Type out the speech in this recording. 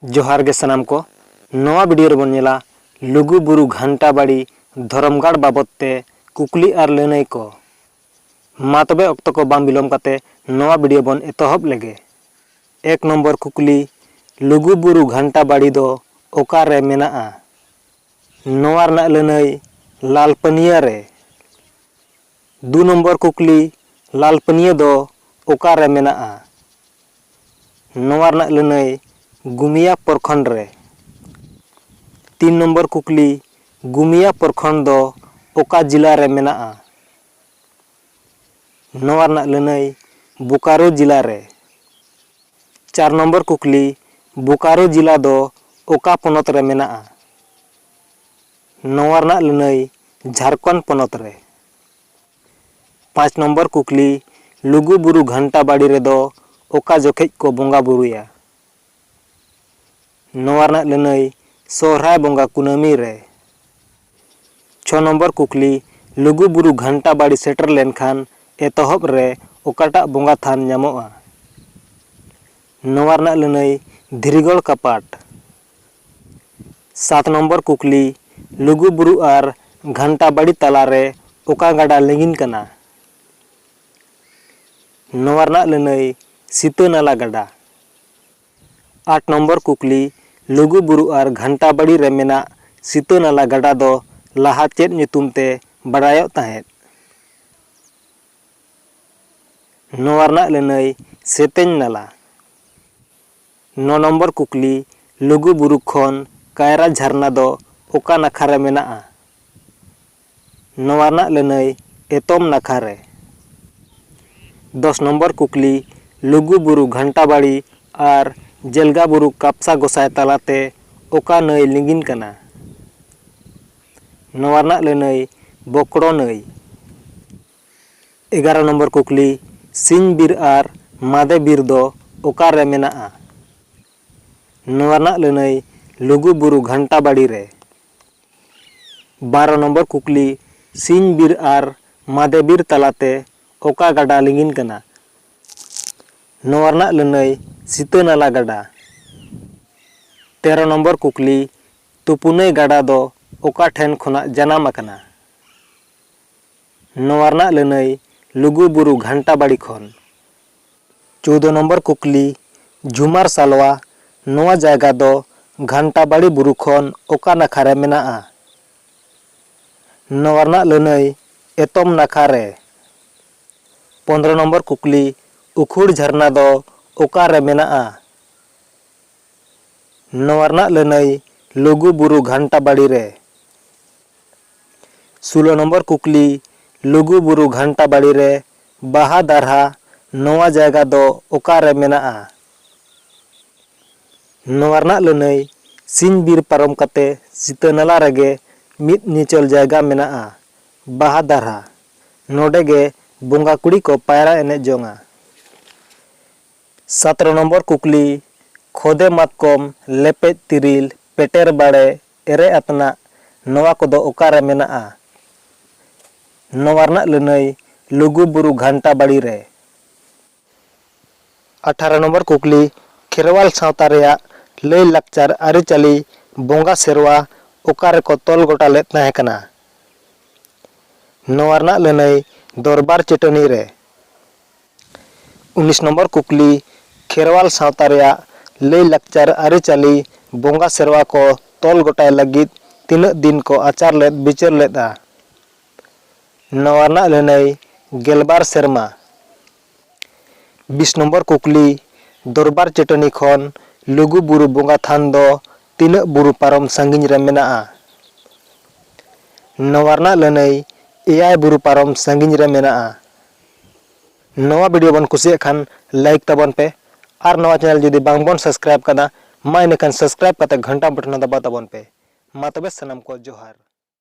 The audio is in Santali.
ᱡᱚᱦᱟᱨ ᱜᱮ ᱥᱟᱱᱟᱢ ᱠᱚ ᱱᱚᱣᱟ ᱵᱷᱤᱰᱤᱭᱳ ᱨᱮᱵᱚᱱ ᱧᱮᱞᱟ ᱞᱩᱜᱩ ᱵᱩᱨᱩ ᱜᱷᱟᱱᱴᱟ ᱵᱟᱲᱤ ᱫᱷᱚᱨᱚᱢ ᱜᱟᱲ ᱵᱟᱵᱚᱛ ᱛᱮ ᱠᱩᱠᱞᱤ ᱟᱨ ᱞᱟᱹᱱᱟᱹᱭ ᱠᱚ ᱢᱟ ᱛᱚᱵᱮ ᱚᱠᱛᱚ ᱠᱚ ᱵᱟᱝ ᱵᱤᱞᱚᱢ ᱠᱟᱛᱮ ᱱᱚᱣᱟ ᱵᱷᱤᱰᱤᱭᱳ ᱵᱚᱱ ᱮᱛᱚᱦᱚᱵ ᱞᱮᱜᱮ ᱮᱠ ᱱᱚᱢᱵᱚᱨ ᱠᱩᱠᱞᱤ ᱞᱩᱜᱩ ᱵᱩᱨᱩ ᱜᱷᱟᱱᱴᱟ ᱵᱟᱲᱤ ᱫᱚ ᱚᱠᱟ ᱨᱮ ᱢᱮᱱᱟᱜᱼᱟ ᱱᱚᱣᱟ ᱨᱮᱱᱟᱜ ᱞᱟᱹᱱᱟᱹᱭ ᱞᱟᱞᱯᱟᱹᱱᱤᱭᱟᱹ ᱨᱮ ᱫᱩ ᱱᱚᱢᱵᱚᱨ ᱠᱩᱠᱞᱤ, ᱞᱟᱞᱯᱟᱹᱱᱤᱭᱟᱹ ᱫᱚ ᱚᱠᱟ ᱨᱮ ᱢᱮᱱᱟᱜᱼᱟ? ᱱᱚᱣᱟ ᱨᱮᱱᱟᱜ ᱞᱟᱹᱱᱟᱹᱭ ᱜᱩᱢᱤᱭᱟ ᱯᱚᱨᱠᱷᱚᱸᱰ ᱨᱮ᱾ ᱛᱤᱱ ᱱᱚᱢᱵᱚᱨ ᱠᱩᱠᱞᱤ, ᱜᱩᱢᱤᱭᱟ ᱯᱚᱨᱠᱷᱚᱸᱰ ᱫᱚ ᱚᱠᱟ ᱡᱤᱞᱟ ᱨᱮ ᱢᱮᱱᱟᱜᱼᱟ? ᱱᱚᱣᱟ ᱨᱮᱱᱟᱜ ᱞᱟᱹᱱᱟᱹᱭ ᱵᱳᱠᱟᱨᱳ ᱡᱤᱞᱟ ᱨᱮ᱾ ᱪᱟᱨ ᱱᱚᱢᱵᱚᱨ ᱠᱩᱠᱞᱤ, ᱵᱳᱠᱟᱨᱳ ᱡᱤᱞᱟ ᱫᱚ ᱚᱠᱟ ᱯᱚᱱᱚᱛ ᱨᱮ ᱢᱮᱱᱟᱜᱼᱟ? ᱱᱚᱣᱟ ᱨᱮᱱᱟᱜ ᱞᱟᱹᱱᱟᱹᱭ ᱡᱷᱟᱨᱠᱷᱚᱸᱰ ᱯᱚᱱᱚᱛ ᱨᱮ᱾ ᱯᱟᱸᱪ ᱱᱚᱢᱵᱚᱨ ᱠᱩᱠᱞᱤ, ᱞᱩᱜᱩ ᱵᱩᱨᱩ ᱜᱷᱟᱱᱴᱟ ᱵᱟᱲᱤ ᱨᱮᱫᱚ ᱚᱠᱟ ᱡᱚᱠᱷᱮᱡ ᱠᱚ ᱵᱚᱸᱜᱟ ᱵᱩᱨᱩᱭᱟ? ᱱᱚᱣᱟ ᱨᱮᱱᱟᱜ ᱞᱟᱹᱱᱟᱹᱭ ᱥᱚᱦᱨᱟᱭ ᱵᱚᱸᱜᱟ ᱠᱩᱱᱟᱹᱢᱤ ᱨᱮ᱾ ᱪᱷᱚ ᱱᱚᱢᱵᱚᱨ ᱠᱩᱠᱞᱤ, ᱞᱩᱜᱩ ᱵᱩᱨᱩ ᱜᱷᱟᱱᱴᱟ ᱵᱟᱲᱤ ᱥᱮᱴᱮᱨ ᱞᱮᱱ ᱠᱷᱟᱱ ᱮᱛᱚᱦᱚᱵ ᱨᱮ ᱚᱠᱟᱴᱟᱜ ᱵᱚᱸᱜᱟ ᱛᱷᱟᱱ ᱧᱟᱢᱚᱜᱼᱟ? ᱱᱚᱣᱟ ᱨᱮᱱᱟᱜ ᱞᱟᱹᱱᱟᱹᱭ ᱫᱷᱤᱨᱤᱜᱚᱲ ᱠᱟᱯᱟᱴ᱾ ᱥᱟᱛ ᱱᱚᱢᱵᱚᱨ ᱠᱩᱠᱞᱤ, ᱞᱩᱜᱩ ᱵᱩᱨᱩ ᱟᱨ ᱜᱷᱟᱱᱴᱟ ᱵᱟᱲᱤ ᱛᱟᱞᱟ ᱨᱮ ᱚᱠᱟ ᱜᱟᱰᱟ ᱞᱤᱸᱜᱤᱱ ᱠᱟᱱᱟ? ᱱᱚᱣᱟ ᱨᱮᱱᱟᱜ ᱞᱟᱹᱱᱟᱹᱭ ᱥᱤᱛᱟᱹ ᱱᱟᱞᱟ ᱜᱟᱰᱟ᱾ ᱟᱴ ᱱᱚᱢᱵᱚᱨ ᱠᱩᱠᱞᱤ, ᱞᱩᱜᱩ ᱵᱩᱨᱩ ᱟᱨ ᱜᱷᱟᱱᱴᱟ ᱵᱟᱲᱤ ᱨᱮ ᱢᱮᱱᱟᱜ ᱥᱤᱛᱟᱹ ᱱᱟᱞᱟ ᱜᱟᱰᱟ ᱫᱚ ᱞᱟᱦᱟ ᱪᱮᱫ ᱧᱩᱛᱩᱢ ᱛᱮ ᱵᱟᱰᱟᱭᱚᱜ ᱛᱟᱦᱮᱸᱫ? ᱱᱚᱣᱟ ᱨᱮᱱᱟᱜ ᱞᱟᱹᱱᱟᱹᱭ ᱥᱮᱛᱮᱧ ᱱᱟᱞᱟ᱾ ᱱᱚ ᱱᱚᱢᱵᱚᱨ ᱠᱩᱠᱞᱤ, ᱞᱩᱜᱩ ᱵᱩᱨᱩ ᱠᱷᱚᱱ ᱠᱟᱭᱨᱟ ᱡᱷᱟᱨᱱᱟ ᱫᱚ ᱚᱠᱟ ᱱᱟᱠᱷᱟ ᱨᱮ ᱢᱮᱱᱟᱜᱼᱟ? ᱱᱚᱣᱟ ᱨᱮᱱᱟᱜ ᱞᱟᱹᱱᱟᱹᱭ ᱮᱛᱚᱢ ᱱᱟᱠᱷᱟ ᱨᱮ᱾ ᱫᱚᱥ ᱱᱚᱢᱵᱚᱨ ᱠᱩᱠᱞᱤ, ᱞᱩᱜᱩ ᱵᱩᱨᱩ ᱜᱷᱟᱱᱴᱟ ᱵᱟᱲᱤ ᱟᱨ ᱡᱮᱞᱜᱟ ᱵᱩᱨᱩ ᱠᱟᱯᱥᱟ ᱜᱚᱥᱟᱭ ᱛᱟᱞᱟ ᱛᱮ ᱚᱠᱟ ᱱᱟᱹᱭ ᱞᱤᱸᱜᱤᱱ ᱠᱟᱱᱟ? ᱱᱚᱣᱟ ᱨᱮᱱᱟᱜ ᱞᱟᱹᱱᱟᱹᱭ ᱵᱚᱠᱲᱚ ᱱᱟᱹᱭ᱾ ᱮᱜᱟᱨᱚ ᱱᱚᱢᱵᱚᱨ ᱠᱩᱠᱞᱤ, ᱥᱤᱧ ᱵᱤᱨ ᱟᱨ ᱢᱟᱫᱮ ᱵᱤᱨ ᱫᱚ ᱚᱠᱟ ᱨᱮ ᱢᱮᱱᱟᱜᱼᱟ? ᱱᱚᱣᱟ ᱨᱮᱱᱟᱜ ᱞᱟᱹᱱᱟᱹᱭ ᱞᱩᱜᱩ ᱵᱩᱨᱩ ᱜᱷᱟᱱᱴᱟ ᱵᱟᱲᱤ ᱨᱮ᱾ ᱵᱟᱨᱚ ᱱᱚᱢᱵᱚᱨ ᱠᱩᱠᱞᱤ, ᱥᱤᱧ ᱵᱤᱨ ᱟᱨ ᱢᱟᱫᱮ ᱵᱤᱨ ᱛᱟᱞᱟ ᱛᱮ ᱚᱠᱟ ᱜᱟᱰᱟ ᱞᱤᱸᱜᱤᱱ ᱠᱟᱱᱟ? ᱱᱚᱣᱟ ᱨᱮᱱᱟᱜ ᱞᱟᱹᱱᱟᱹᱭ ᱥᱤᱛᱟᱹ ᱱᱟᱞᱟ ᱜᱟᱰᱟ᱾ ᱛᱮᱨᱚ ᱱᱚᱢᱵᱚᱨ ᱠᱩᱠᱞᱤ, ᱛᱩᱯᱩᱱᱟᱹᱭ ᱜᱟᱰᱟ ᱫᱚ ᱚᱠᱟ ᱴᱷᱮᱱ ᱠᱷᱚᱱᱟᱜ ᱡᱟᱱᱟᱢ ᱟᱠᱟᱱᱟ? ᱱᱚᱣᱟ ᱨᱮᱱᱟᱜ ᱞᱟᱹᱱᱟᱹᱭ ᱞᱩᱜᱩ ᱵᱩᱨᱩ ᱜᱷᱟᱱᱴᱟ ᱵᱟᱲᱤ ᱠᱷᱚᱱ᱾ ᱪᱳᱣᱫᱚ ᱱᱚᱢᱵᱚᱨ ᱠᱩᱠᱞᱤ, ᱡᱷᱩᱢᱟᱨ ᱥᱟᱞᱣᱟ ᱱᱚᱣᱟ ᱡᱟᱭᱜᱟ ᱫᱚ ᱜᱷᱟᱱᱴᱟ ᱵᱟᱲᱤ ᱵᱩᱨᱩ ᱠᱷᱚᱱ ᱚᱠᱟ ᱱᱟᱠᱷᱟ ᱨᱮ ᱢᱮᱱᱟᱜᱼᱟ? ᱱᱚᱣᱟ ᱨᱮᱱᱟᱜ ᱞᱟᱹᱱᱟᱹᱭ ᱮᱛᱚᱢ ᱱᱟᱠᱷᱟ ᱨᱮ᱾ ᱯᱚᱱᱫᱽᱨᱚ ᱱᱚᱢᱵᱚᱨ ᱠᱩᱠᱞᱤ, ᱩᱠᱷᱩᱲ ᱡᱷᱟᱨᱱᱟ ᱫᱚ ᱚᱠᱟ ᱨᱮ ᱢᱮᱱᱟᱜᱼᱟ? ᱱᱚᱣᱟ ᱨᱮᱱᱟᱜ ᱞᱟᱹᱱᱟᱹᱭ ᱞᱩᱜᱩ ᱵᱩᱨᱩ ᱜᱷᱟᱱᱴᱟ ᱵᱟᱲᱤ ᱨᱮ᱾ ᱥᱩᱞᱚ ᱱᱚᱢᱵᱚᱨ ᱠᱩᱠᱞᱤ, ᱞᱩᱜᱩ ᱵᱩᱨᱩ ᱜᱷᱟᱱᱴᱟ ᱵᱟᱲᱤ ᱨᱮ ᱵᱟᱦᱟ ᱫᱟᱨᱦᱟ ᱱᱚᱣᱟ ᱡᱟᱭᱜᱟ ᱫᱚ ᱚᱠᱟ ᱨᱮ ᱢᱮᱱᱟᱜᱼᱟ? ᱱᱚᱣᱟ ᱨᱮᱱᱟᱜ ᱞᱟᱹᱱᱟᱹᱭ, ᱥᱤᱧ ᱵᱤᱨ ᱯᱟᱨᱚᱢ ᱠᱟᱛᱮ ᱥᱤᱛᱟᱹ ᱱᱟᱞᱟ ᱨᱮᱜᱮ ᱢᱤᱫ ᱧᱮᱪᱚᱞ ᱡᱟᱭᱜᱟ ᱢᱮᱱᱟᱜᱼᱟ ᱵᱟᱦᱟ ᱫᱟᱨᱦᱟ᱾ ᱱᱚᱰᱮ ᱜᱮ ᱵᱚᱸᱜᱟ ᱠᱩᱲᱤ ᱠᱚ ᱯᱟᱭᱨᱟ ᱮᱱᱮᱡ ᱡᱚᱝᱼᱟ᱾ ᱥᱟᱛᱨᱚ ᱱᱚᱢᱵᱚᱨ ᱠᱩᱠᱞᱤ, ᱠᱷᱚᱫᱮ ᱢᱟᱛᱠᱚᱢ, ᱞᱮᱯᱮᱡ ᱛᱤᱨᱤᱞ, ᱯᱮᱴᱮᱨ ᱵᱟᱲᱮ ᱮᱨᱮ ᱟᱯᱱᱟᱜ ᱱᱚᱣᱟ ᱠᱚᱫᱚ ᱚᱠᱟ ᱨᱮ ᱢᱮᱱᱟᱜᱼᱟ? ᱱᱚᱣᱟ ᱨᱮᱱᱟᱜ ᱞᱟᱹᱱᱟᱹᱭ ᱞᱩᱜᱩ ᱵᱩᱨᱩ ᱜᱷᱟᱱᱴᱟ ᱵᱟᱲᱤ ᱨᱮ᱾ ᱟᱴᱷᱟᱨᱚ ᱱᱚᱢᱵᱚᱨ ᱠᱩᱠᱞᱤ, ᱠᱷᱮᱨᱣᱟᱞ ᱥᱟᱶᱛᱟ ᱨᱮᱭᱟᱜ ᱞᱟᱹᱭ ᱞᱟᱠᱪᱟᱨ ᱟᱹᱨᱤᱪᱟᱹᱞᱤ ᱵᱚᱸᱜᱟ ᱥᱮᱨᱣᱟ ᱚᱠᱟ ᱨᱮ ᱠᱚ ᱛᱚᱞ ᱜᱚᱴᱟ ᱞᱮᱫ ᱛᱟᱦᱮᱸ ᱠᱟᱱᱟ? ᱱᱚᱣᱟ ᱨᱮᱱᱟᱜ ᱞᱟᱹᱱᱟᱹᱭ ᱫᱚᱨᱵᱟᱨ ᱪᱟᱹᱴᱟᱹᱱᱤ ᱨᱮ᱾ ᱩᱱᱤᱥ ᱱᱚᱢᱵᱚᱨ ᱠᱩᱠᱞᱤ, ᱠᱷᱮᱨᱣᱟᱞ ᱥᱟᱶᱛᱟ ᱨᱮᱭᱟᱜ ᱞᱟᱹᱭ ᱞᱟᱠᱪᱟᱨ, ᱟᱹᱨᱤᱪᱟᱹᱞᱤ, ᱵᱚᱸᱜᱟ ᱥᱮᱨᱣᱟ ᱠᱚ ᱛᱚᱞ ᱜᱚᱴᱟᱭ ᱞᱟᱹᱜᱤᱫ ᱛᱤᱱᱟᱹᱜ ᱫᱤᱱ ᱠᱚ ᱟᱪᱟᱨ ᱞᱮᱫ ᱵᱤᱪᱟᱹᱨ ᱞᱮᱫᱼᱟ? ᱱᱚᱣᱟ ᱨᱮᱱᱟᱜ ᱞᱟᱹᱱᱟᱹᱭ, ᱜᱮᱞᱵᱟᱨ ᱥᱮᱨᱢᱟ᱾ ᱵᱤᱥ ᱱᱚᱢᱵᱚᱨ ᱠᱩᱠᱞᱤ, ᱫᱚᱨᱵᱟᱨ ᱪᱟᱹᱴᱟᱹᱱᱤ ᱠᱷᱚᱱ ᱞᱩᱜᱩ ᱵᱩᱨᱩ ᱵᱚᱸᱜᱟ ᱛᱷᱟᱱ ᱫᱚ ᱛᱤᱱᱟᱹᱜ ᱵᱩᱨᱩ ᱯᱟᱨᱚᱢ ᱥᱟᱺᱜᱤᱧ ᱨᱮ ᱢᱮᱱᱟᱜᱼᱟ? ᱱᱚᱣᱟ ᱨᱮᱱᱟᱜ ᱞᱟᱹᱱᱟᱹᱭ, ᱮᱭᱟᱭ ᱵᱩᱨᱩ ᱯᱟᱨᱚᱢ ᱥᱟᱺᱜᱤᱧ ᱨᱮ ᱢᱮᱱᱟᱜᱼᱟ᱾ ᱱᱚᱣᱟ ᱵᱷᱤᱰᱤᱭᱳ ᱵᱚᱱ ᱠᱩᱥᱤᱭᱟᱜ ᱠᱷᱟᱱ ᱞᱟᱭᱤᱠ ᱛᱟᱵᱚᱱ ᱯᱮ ᱟᱨ ᱱᱚᱣᱟ ᱪᱮᱱᱮᱞ ᱡᱩᱫᱤ ᱵᱟᱝ ᱵᱚᱱ ᱥᱟᱵᱥᱠᱨᱟᱭᱤᱵ ᱠᱟᱫᱟ ᱢᱟ ᱤᱱᱟᱹᱠᱷᱟᱱ ᱥᱟᱵᱥᱠᱨᱟᱭᱤᱵ ᱠᱟᱛᱮ ᱜᱷᱚᱱᱴᱟ ᱵᱚᱴᱚᱱ ᱦᱚᱸ ᱫᱟᱵᱟᱣ ᱛᱟᱵᱚᱱ ᱯᱮ ᱢᱟ ᱛᱚᱵᱮ ᱥᱟᱱᱟᱢ ᱠᱚ ᱡᱚᱦᱟᱨ